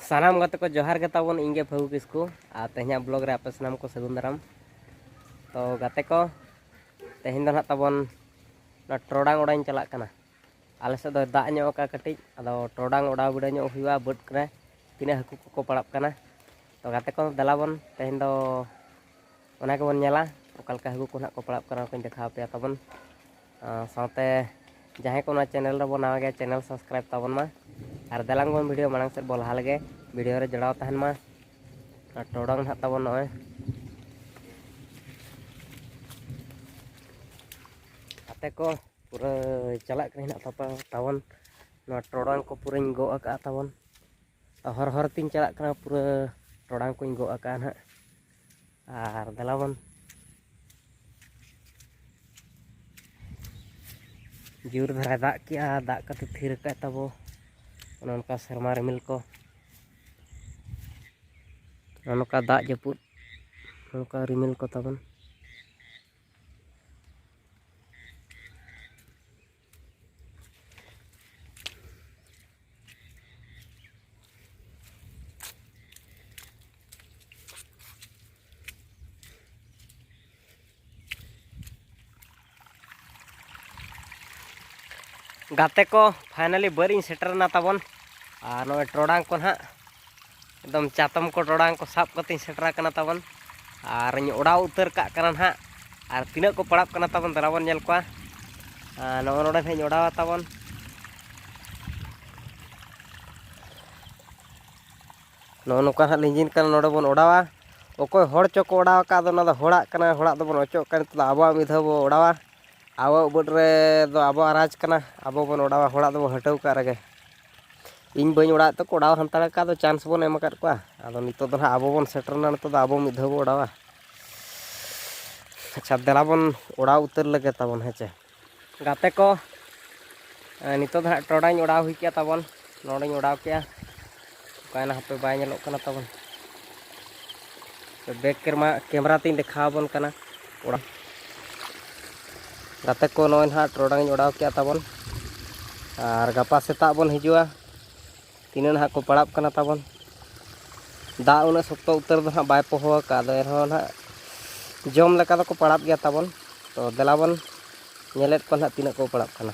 ᱥᱟᱱᱟᱢ ᱜᱟᱛᱮ ᱠᱚ ᱡᱚᱦᱟᱨ ᱜᱮ ᱛᱟᱵᱚᱱ ᱤᱧ ᱜᱮ ᱯᱷᱟᱹᱜᱩ ᱠᱤᱥᱠᱩ ᱟᱨ ᱛᱮᱦᱮᱧᱟᱜ ᱵᱞᱚᱜ ᱨᱮ ᱟᱯᱮ ᱥᱟᱱᱟᱢ ᱠᱚ ᱥᱟᱹᱜᱩᱱ ᱫᱟᱨᱟᱢ ᱛᱚ ᱜᱟᱛᱮ ᱠᱚ ᱛᱮᱦᱮᱧ ᱫᱚ ᱱᱟᱦᱟᱜ ᱛᱟᱵᱚᱱ ᱱᱚᱣᱟ ᱴᱚᱨᱚᱰᱟᱝ ᱚᱰᱟᱣ ᱤᱧ ᱪᱟᱞᱟᱜ ᱠᱟᱱᱟ ᱟᱞᱮ ᱥᱮᱫ ᱫᱚ ᱫᱟᱜ ᱧᱚᱜ ᱟᱠᱟᱫ ᱠᱟᱹᱴᱤᱡ ᱟᱫᱚ ᱴᱚᱨᱚᱰᱟᱝ ᱚᱰᱟᱣ ᱵᱤᱰᱟᱹᱣ ᱧᱚᱜ ᱦᱩᱭᱩᱜᱼᱟ ᱵᱟᱹᱫᱽ ᱠᱚᱨᱮ ᱛᱤᱱᱟᱹᱜ ᱦᱟᱹᱠᱩ ᱠᱚᱠᱚ ᱯᱟᱲᱟᱜ ᱠᱟᱱᱟ ᱛᱚ ᱜᱟᱛᱮ ᱠᱚ ᱫᱮᱞᱟ ᱵᱚᱱ ᱛᱮᱦᱮᱧ ᱫᱚ ᱚᱱᱟ ᱜᱮᱵᱚᱱ ᱧᱮᱞᱟ ᱚᱠᱟ ᱞᱮᱠᱟ ᱦᱟᱹᱠᱩ ᱠᱚ ᱱᱟᱦᱟᱜ ᱠᱚ ᱯᱟᱲᱟᱜ ᱠᱟᱱᱟ ᱚᱱᱟ ᱠᱚᱧ ᱫᱮᱠᱷᱟᱣ ᱯᱮᱭᱟ ᱛᱟᱵᱚᱱ ᱥᱟᱶᱛᱮ ᱡᱟᱦᱟᱸᱭ ᱠᱚ ᱚᱱᱟ ᱪᱮᱱᱮᱞ ᱨᱮᱵᱚ ᱱᱟᱣᱟ ᱜᱮᱭᱟ ᱪᱮᱱᱮᱞ ᱥᱟᱵᱥᱠᱨᱟᱭᱤᱵᱽ ᱛᱟᱵᱚᱱ ᱢᱟ ᱟᱨ ᱫᱮᱞᱟᱝ ᱵᱚᱱ ᱵᱷᱤᱰᱤᱭᱳ ᱢᱟᱲᱟᱝ ᱥᱮᱫ ᱵᱚ ᱞᱟᱦᱟ ᱞᱮᱜᱮ ᱵᱷᱤᱰᱤᱭᱳ ᱨᱮ ᱡᱚᱲᱟᱣ ᱛᱟᱦᱮᱱ ᱢᱟ ᱟᱨ ᱴᱚᱰᱚᱝ ᱱᱟᱦᱟᱜ ᱛᱟᱵᱚᱱ ᱱᱚᱜᱼᱚᱭ ᱟᱛᱮ ᱠᱚ ᱯᱩᱨᱟᱹ ᱪᱟᱞᱟᱜ ᱠᱟᱱᱟ ᱱᱟᱦᱟᱜ ᱛᱟᱵᱚᱱ ᱱᱚᱣᱟ ᱴᱚᱰᱚᱝ ᱠᱚ ᱯᱩᱨᱟᱹᱧ ᱜᱚᱜ ᱟᱠᱟᱫᱼᱟ ᱛᱟᱵᱚᱱ ᱦᱚᱨ ᱦᱚᱨ ᱛᱤᱧ ᱪᱟᱞᱟᱜ ᱠᱟᱱᱟ ᱯᱩᱨᱟᱹ ᱴᱚᱲᱟᱝ ᱠᱚᱧ ᱜᱚᱜ ᱟᱠᱟᱜᱼᱟ ᱱᱟᱦᱟᱜ ᱟᱨ ᱫᱮᱞᱟᱵᱚᱱ ᱡᱳᱨ ᱫᱷᱟᱨᱟᱭ ᱫᱟᱜ ᱠᱮᱜᱼᱟ ᱫᱟᱜ ᱠᱟᱛᱮ ᱛᱷᱤᱨ ᱟᱠᱟᱫ ᱛᱟᱵᱚ ᱚᱱᱮ ᱚᱱᱠᱟ ᱥᱮᱨᱢᱟ ᱨᱤᱢᱤᱞ ᱠᱚ ᱚᱱᱮ ᱚᱱᱠᱟ ᱫᱟᱜ ᱡᱟᱹᱯᱩᱫ ᱚᱱᱠᱟ ᱨᱤᱢᱤᱞ ᱠᱚ ᱛᱟᱵᱚᱱ ᱜᱟᱛᱮ ᱠᱚ ᱯᱷᱟᱭᱱᱟᱞᱤ ᱵᱟᱹᱨᱤᱧ ᱥᱮᱴᱮᱨᱮᱱᱟ ᱛᱟᱵᱚᱱ ᱟᱨ ᱱᱚᱜᱼᱚᱭ ᱴᱚᱨᱚᱰᱟᱝ ᱠᱚ ᱱᱟᱦᱟᱜ ᱮᱠᱫᱚᱢ ᱪᱟᱛᱚᱢ ᱠᱚ ᱴᱚᱲᱟᱝ ᱠᱚ ᱥᱟᱵ ᱠᱟᱛᱮᱧ ᱥᱮᱴᱮᱨ ᱟᱠᱟᱱᱟ ᱛᱟᱵᱚᱱ ᱟᱨᱤᱧ ᱚᱰᱟᱣ ᱩᱛᱟᱹᱨ ᱠᱟᱜ ᱠᱟᱱᱟ ᱱᱟᱦᱟᱜ ᱟᱨ ᱛᱤᱱᱟᱹᱜ ᱠᱚ ᱯᱟᱲᱟᱜ ᱠᱟᱱᱟ ᱛᱟᱵᱚᱱ ᱫᱮᱞᱟ ᱵᱚᱱ ᱧᱮᱞ ᱠᱚᱣᱟ ᱱᱚᱜᱼᱚ ᱱᱚᱰᱮ ᱱᱟᱦᱟᱜ ᱤᱧ ᱚᱰᱟᱣᱟ ᱛᱟᱵᱚᱱ ᱱᱚᱜᱼᱚ ᱱᱚᱝᱠᱟ ᱱᱟᱦᱟᱜ ᱞᱤᱸᱡᱤᱱ ᱠᱟᱱᱟ ᱱᱚᱰᱮ ᱵᱚᱱ ᱚᱰᱟᱣᱟ ᱚᱠᱚᱭ ᱦᱚᱲ ᱪᱚᱠᱚ ᱚᱰᱟᱣ ᱟᱠᱟᱫ ᱫᱚ ᱚᱱᱟ ᱫᱚ ᱦᱚᱲᱟᱜ ᱠᱟᱱᱟ ᱦᱚᱲᱟᱜ ᱫᱚᱵᱚᱱ ᱚᱪᱚᱜ ᱠᱟᱱᱟ ᱱᱤᱛᱚᱜ ᱫᱚ ᱟᱵᱚᱣᱟᱜ ᱢᱤᱫ ᱫᱷᱟᱣ ᱵᱚ ᱚᱰᱟᱣᱟ ᱟᱵᱚᱣᱟᱜ ᱵᱟᱹᱫᱽ ᱨᱮᱫᱚ ᱟᱵᱚᱣᱟᱜ ᱨᱟᱡᱽ ᱠᱟᱱᱟ ᱟᱵᱚ ᱵᱚᱱ ᱚᱰᱟᱣᱟ ᱦᱚᱲᱟᱜ ᱫᱚᱵᱚᱱ ᱦᱟᱹᱴᱟᱹᱣ ᱠᱟᱜ ᱨᱮᱜᱮ ᱤᱧ ᱵᱟᱹᱧ ᱚᱲᱟᱜ ᱛᱮ ᱠᱚᱲᱟᱣ ᱦᱟᱱᱛᱟᱲ ᱟᱠᱟᱫ ᱫᱚ ᱪᱟᱱᱥ ᱵᱚᱱ ᱮᱢ ᱟᱠᱟᱫ ᱠᱚᱣᱟ ᱟᱫᱚ ᱱᱤᱛᱚᱜ ᱫᱚ ᱱᱟᱦᱟᱜ ᱟᱵᱚ ᱵᱚᱱ ᱥᱮᱴᱮᱨᱱᱟ ᱱᱤᱛᱚᱜ ᱫᱚ ᱟᱵᱚ ᱢᱤᱫ ᱫᱷᱟᱣ ᱵᱚ ᱚᱲᱟᱣᱟ ᱟᱪᱪᱷᱟ ᱫᱮᱞᱟ ᱵᱚᱱ ᱚᱲᱟᱣ ᱩᱛᱟᱹᱨ ᱞᱮᱜᱮ ᱛᱟᱵᱚᱱ ᱦᱮᱸ ᱪᱮ ᱜᱟᱛᱮ ᱠᱚ ᱱᱤᱛᱚᱜ ᱫᱚ ᱱᱟᱦᱟᱜ ᱴᱚᱰᱟᱧ ᱚᱲᱟᱣ ᱦᱩᱭ ᱠᱮᱜᱼᱟ ᱛᱟᱵᱚᱱ ᱱᱚᱰᱮᱧ ᱚᱲᱟᱣ ᱠᱮᱜᱼᱟ ᱚᱠᱟᱭᱮᱱᱟ ᱦᱟᱯᱮ ᱵᱟᱭ ᱧᱮᱞᱚᱜ ᱠᱟᱱᱟ ᱛᱟᱵᱚᱱ ᱵᱮᱠ ᱠᱮᱢᱮᱨᱟ ᱠᱮᱢᱮᱨᱟ ᱛᱮᱧ ᱫᱮᱠᱷᱟᱣ ᱟᱵᱚᱱ ᱠᱟᱱᱟ ᱚᱲᱟᱜ ᱜᱟᱛᱮ ᱠᱚ ᱱᱚᱜᱼᱚᱭ ᱱᱟᱦᱟᱜ ᱴᱚᱨᱚᱰᱟᱝ ᱤᱧ ᱚᱰᱟᱣ ᱠᱮᱜᱼᱟ ᱛᱟᱵᱚᱱ ᱟᱨ ᱜᱟᱯᱟ ᱥᱮᱛᱟᱜ ᱵᱚᱱ ᱦᱤᱡᱩᱜᱼᱟ ᱛᱤᱱᱟᱹᱜ ᱱᱟᱦᱟᱜ ᱠᱚ ᱯᱟᱲᱟᱜ ᱠᱟᱱᱟ ᱛᱟᱵᱚᱱ ᱫᱟᱜ ᱩᱱᱟᱹᱜ ᱥᱚᱠᱛᱚ ᱩᱛᱟᱹᱨ ᱫᱚ ᱱᱟᱦᱟᱜ ᱵᱟᱭ ᱯᱚᱦᱚ ᱟᱠᱟᱫ ᱟᱫᱚ ᱮᱱᱦᱚᱸ ᱱᱟᱦᱟᱜ ᱡᱚᱢ ᱞᱮᱠᱟ ᱫᱚᱠᱚ ᱯᱟᱲᱟᱜ ᱜᱮᱭᱟ ᱛᱟᱵᱚᱱ ᱛᱚ ᱫᱮᱞᱟ ᱵᱚᱱ ᱧᱮᱞᱮᱫ ᱠᱚᱣᱟ ᱱᱟᱦᱟᱜ ᱛᱤᱱᱟᱹᱜ ᱠᱚ ᱯᱟᱲᱟᱜ ᱠᱟᱱᱟ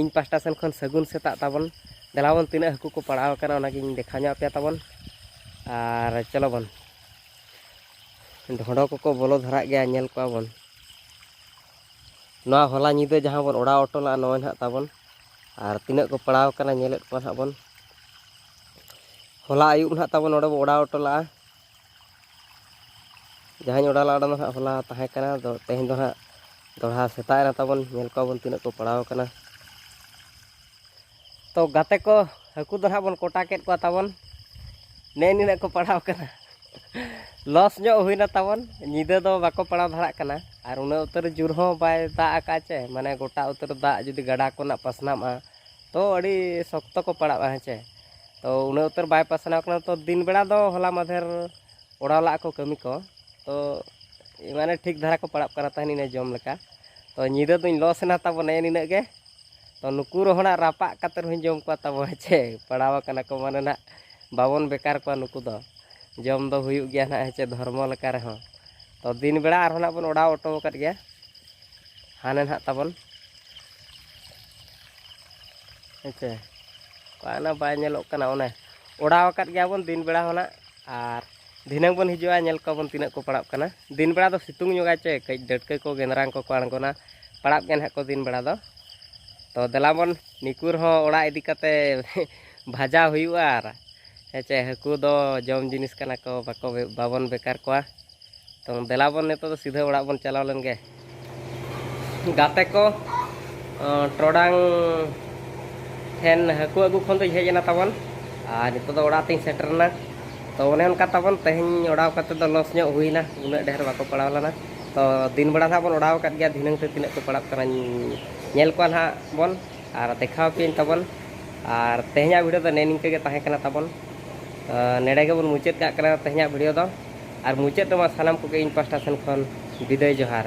ᱤᱧ ᱯᱟᱥᱴᱟ ᱥᱮᱱ ᱠᱷᱚᱱ ᱥᱟᱹᱜᱩᱱ ᱥᱮᱛᱟᱜ ᱛᱟᱵᱚᱱ ᱫᱮᱞᱟ ᱵᱚᱱ ᱛᱤᱱᱟᱹᱜ ᱦᱟᱹᱠᱩ ᱠᱚ ᱯᱟᱲᱟᱣ ᱟᱠᱟᱱᱟ ᱚᱱᱟᱜᱤᱧ ᱫᱮᱠᱷᱟᱣ ᱧᱚᱜ ᱟᱯᱮᱭᱟ ᱛᱟᱵᱚᱱ ᱟᱨ ᱪᱚᱞᱚ ᱵᱚᱱ ᱰᱷᱚᱸᱰᱚ ᱠᱚᱠᱚ ᱵᱚᱞᱚ ᱫᱷᱟᱨᱟᱜ ᱜᱮᱭᱟ ᱧᱮᱞ ᱠᱚᱣᱟ ᱵᱚᱱ ᱱᱚᱣᱟ ᱦᱚᱞᱟ ᱧᱤᱫᱟᱹ ᱡᱟᱦᱟᱸ ᱵᱚᱱ ᱚᱲᱟᱣ ᱦᱚᱴᱚ ᱞᱮᱫᱼᱟ ᱱᱚᱜᱼᱚᱭ ᱱᱟᱦᱟᱜ ᱛᱟᱵᱚᱱ ᱟᱨ ᱛᱤᱱᱟᱹᱜ ᱠᱚ ᱯᱟᱲᱟᱣ ᱟᱠᱟᱱᱟ ᱧᱮᱞᱮᱫ ᱠᱚᱣᱟ ᱱᱟᱦᱟᱜ ᱵᱚᱱ ᱦᱚᱞᱟ ᱟᱹᱭᱩᱵ ᱱᱟᱦᱟᱜ ᱛᱟᱵᱚᱱ ᱱᱚᱰᱮ ᱵᱚᱱ ᱚᱲᱟᱣ ᱦᱚᱴᱚ ᱞᱮᱫᱼᱟ ᱡᱟᱦᱟᱸᱧ ᱚᱰᱟᱣ ᱞᱟᱜᱼᱟ ᱚᱱᱟ ᱫᱚ ᱦᱟᱸᱜ ᱦᱚᱞᱟ ᱛᱟᱦᱮᱸ ᱠᱟᱱᱟ ᱟᱫᱚ ᱛᱮᱦᱮᱧ ᱫᱚ ᱦᱟᱸᱜ ᱫᱚᱲᱦᱟ ᱥᱮᱛᱟᱜ ᱮᱱᱟ ᱛᱟᱵᱚᱱ ᱧᱮᱞ ᱠᱚᱣᱟᱵᱚᱱ ᱛᱤᱱᱟᱹᱜ ᱠᱚ ᱯᱟᱲᱟᱣ ᱠᱟᱱᱟ ᱛᱚ ᱜᱟᱛᱮ ᱠᱚ ᱦᱟᱹᱠᱩ ᱫᱚ ᱦᱟᱸᱜ ᱵᱚᱱ ᱠᱚᱴᱟ ᱠᱮᱫ ᱠᱚᱣᱟ ᱛᱟᱵᱚᱱ ᱱᱮ ᱱᱤᱱᱟᱹᱜ ᱠᱚ ᱯᱟᱲᱟᱣ ᱠᱟᱱᱟ ᱞᱚᱥ ᱧᱚᱜ ᱦᱩᱭᱱᱟ ᱛᱟᱵᱚᱱ ᱧᱤᱫᱟᱹ ᱫᱚ ᱵᱟᱠᱚ ᱯᱟᱲᱟᱣ ᱫᱷᱟᱨᱟᱜ ᱠᱟᱱᱟ ᱟᱨ ᱩᱱᱟᱹᱜ ᱩᱛᱟᱹᱨ ᱡᱳᱨ ᱦᱚᱸ ᱵᱟᱭ ᱫᱟᱜ ᱟᱠᱟᱫ ᱪᱮ ᱢᱟᱱᱮ ᱜᱚᱴᱟ ᱩᱛᱟᱹᱨ ᱫᱟᱜ ᱡᱩᱫᱤ ᱜᱟᱰᱟ ᱠᱚᱨᱮᱱᱟᱜ ᱯᱟᱥᱱᱟᱜᱼᱟ ᱛᱚ ᱟᱹᱰᱤ ᱥᱚᱠᱛᱚ ᱠᱚ ᱯᱟᱲᱟᱜᱼᱟ ᱦᱮᱸ ᱪᱮ ᱛᱚ ᱩᱱᱟᱹᱜ ᱩᱛᱟᱹᱨ ᱵᱟᱭ ᱯᱟᱥᱱᱟᱣ ᱠᱟᱱᱟ ᱛᱚ ᱫᱤᱱ ᱵᱮᱲᱟ ᱫᱚ ᱦᱚᱞᱟ ᱢᱟᱫᱷᱮᱨ ᱚᱲᱟᱣ ᱞᱟᱜ ᱠᱚ ᱠᱟᱹᱢᱤ ᱠᱚ ᱛᱚ ᱢᱟᱱᱮ ᱴᱷᱤᱠ ᱫᱷᱟᱨᱟ ᱠᱚ ᱯᱟᱲᱟᱜ ᱠᱟᱱᱟ ᱛᱟᱦᱮᱱ ᱤᱱᱟᱹ ᱡᱚᱢ ᱞᱮᱠᱟ ᱛᱚ ᱧᱤᱫᱟᱹ ᱫᱚᱧ ᱞᱚᱥ ᱮᱱᱟ ᱛᱟᱵᱚ ᱱᱮᱜᱼᱮ ᱱᱤᱱᱟᱹᱜ ᱜᱮ ᱛᱚ ᱱᱩᱠᱩ ᱨᱚᱦᱚᱲᱟᱜ ᱨᱟᱯᱟᱜ ᱠᱟᱛᱮ ᱨᱮᱦᱚᱸᱧ ᱡᱚᱢ ᱠᱚᱣᱟ ᱛᱟᱵᱚ ᱦᱮᱸᱪᱮ ᱯᱟᱲᱟᱣ ᱟᱠᱟᱱᱟ ᱠᱚ ᱢᱟᱱᱮ ᱱᱟᱜ ᱵᱟᱵᱚᱱ ᱵᱮᱠᱟᱨ ᱠᱚᱣᱟ ᱱᱩᱠᱩ ᱫᱚ ᱡᱚᱢ ᱫᱚ ᱦᱩᱭᱩᱜ ᱜᱮᱭᱟ ᱱᱟᱜ ᱦᱮᱸᱪᱮ ᱫᱷᱚᱨᱢᱚ ᱞᱮᱠᱟ ᱨᱮᱦᱚᱸ ᱛᱚ ᱫᱤᱱ ᱵᱮᱲᱟ ᱟᱨᱦᱚᱸ ᱱᱟᱜ ᱵᱚᱱ ᱚᱲᱟᱣ ᱚᱴᱚ ᱟᱠᱟᱫ ᱜᱮᱭᱟ ᱦᱟᱱᱮ ᱱᱟᱜ ᱛᱟᱵᱚᱱ ᱦᱮᱸᱥᱮ ᱚᱱᱟ ᱵᱟᱭ ᱧᱮᱞᱚᱜ ᱠᱟᱱᱟ ᱚᱱᱮ ᱚᱲᱟᱣ ᱟᱠᱟᱫ ᱜᱮᱭᱟᱵᱚᱱ ᱫᱤᱱ ᱵᱮᱲᱟ ᱦᱚᱸ ᱱᱟᱜ ᱟᱨ ᱫᱷᱤᱱᱟᱹᱝ ᱵᱚᱱ ᱦᱤᱡᱩᱜᱼᱟ ᱧᱮᱞ ᱠᱚᱣᱟᱵᱚᱱ ᱛᱤᱱᱟᱹᱜ ᱠᱚ ᱯᱟᱲᱟᱜ ᱠᱟᱱᱟ ᱫᱤᱱ ᱵᱮᱲᱟ ᱫᱚ ᱥᱤᱛᱩᱝ ᱧᱚᱜᱟ ᱪᱮ ᱠᱟᱹᱡ ᱰᱟᱹᱴᱠᱟᱹ ᱠᱚ ᱜᱮᱸᱫᱽᱨᱟᱝ ᱠᱚᱠᱚ ᱟᱬᱜᱚᱱᱟ ᱯᱟᱲᱟᱜ ᱜᱮ ᱱᱟᱦᱟᱜ ᱠᱚ ᱫᱤᱱ ᱵᱮᱲᱟ ᱫᱚ ᱛᱚ ᱫᱮᱞᱟ ᱵᱚᱱ ᱱᱤᱠᱩ ᱨᱮᱦᱚᱸ ᱚᱲᱟᱜ ᱤᱫᱤ ᱠᱟᱛᱮ ᱵᱷᱟᱡᱟ ᱦᱩᱭᱩᱜᱼᱟ ᱟᱨ ᱦᱮᱸᱪᱮ ᱦᱟᱹᱠᱩ ᱫᱚ ᱡᱚᱢ ᱡᱤᱱᱤᱥ ᱠᱟᱱᱟ ᱠᱚ ᱵᱟᱠᱚ ᱵᱟᱵᱚᱱ ᱵᱮᱠᱟᱨ ᱠᱚᱣᱟ ᱛᱚ ᱫᱮᱞᱟ ᱵᱚᱱ ᱱᱤᱛᱚᱜ ᱫᱚ ᱥᱤᱫᱷᱟᱹ ᱚᱲᱟᱜ ᱵᱚᱱ ᱪᱟᱞᱟᱣ ᱞᱮᱱ ᱜᱮ ᱜᱟᱛᱮ ᱠᱚ ᱴᱚᱰᱟᱝ ᱴᱷᱮᱱ ᱦᱟᱹᱠᱩ ᱟᱹᱜᱩ ᱠᱷᱚᱱ ᱫᱚᱧ ᱦᱮᱡ ᱮᱱᱟ ᱛᱟᱵᱚᱱ ᱟᱨ ᱱᱤᱛᱚᱜ ᱫᱚ ᱚᱲᱟᱜ ᱛᱤᱧ ᱥᱮᱴᱮᱨᱱᱟ ᱛᱚ ᱚᱱᱮ ᱚᱱᱠᱟ ᱛᱟᱵᱚᱱ ᱛᱮᱦᱮᱧ ᱚᱰᱟᱣ ᱠᱟᱛᱮ ᱫᱚ ᱞᱚᱥ ᱧᱚᱜ ᱦᱩᱭᱱᱟ ᱩᱱᱟᱹᱜ ᱰᱷᱮᱨ ᱵᱟᱠᱚ ᱯᱟᱲᱟᱣ ᱞᱮᱱᱟ ᱛᱚ ᱫᱤᱱ ᱵᱮᱲᱟ ᱱᱟᱦᱟᱜ ᱵᱚᱱ ᱚᱰᱟᱣ ᱟᱠᱟᱫ ᱜᱮᱭᱟ ᱫᱷᱤᱱᱟᱹᱝ ᱛᱮ ᱛᱤᱱᱟᱹᱜ ᱠᱚ ᱯᱟᱲᱟᱜ ᱠᱟᱱᱟ ᱧᱮᱞ ᱠᱚᱣᱟ ᱱᱟᱦᱟᱜ ᱵᱚᱱ ᱟᱨ ᱫᱮᱠᱷᱟᱣ ᱯᱮᱭᱟᱹᱧ ᱛᱟᱵᱚᱱ ᱟᱨ ᱛᱮᱦᱮᱧᱟᱜ ᱵᱷᱤᱰᱤᱭᱳ ᱫᱚ ᱱᱮ ᱱᱤᱝᱠᱟᱹ ᱜᱮ ᱛᱟᱦᱮᱸ ᱠᱟᱱᱟ ᱛᱟᱵᱚᱱ ᱱᱮᱰᱮ ᱜᱮᱵᱚᱱ ᱢᱩᱪᱟᱹᱫ ᱠᱟᱜ ᱠᱟᱱᱟ ᱛᱮᱦᱮᱧᱟᱜ ᱵᱷᱤᱰᱤᱭᱳ ᱫᱚ ᱟᱨ ᱢᱩᱪᱟᱹᱫ ᱨᱮᱢᱟ ᱥᱟᱱᱟᱢ ᱠᱚᱜᱮ ᱤᱧ ᱯᱟᱥᱴᱟ ᱥᱮᱱ ᱠᱷᱚᱱ ᱵᱤᱫᱟᱹᱭ ᱡᱚᱦᱟᱨ᱾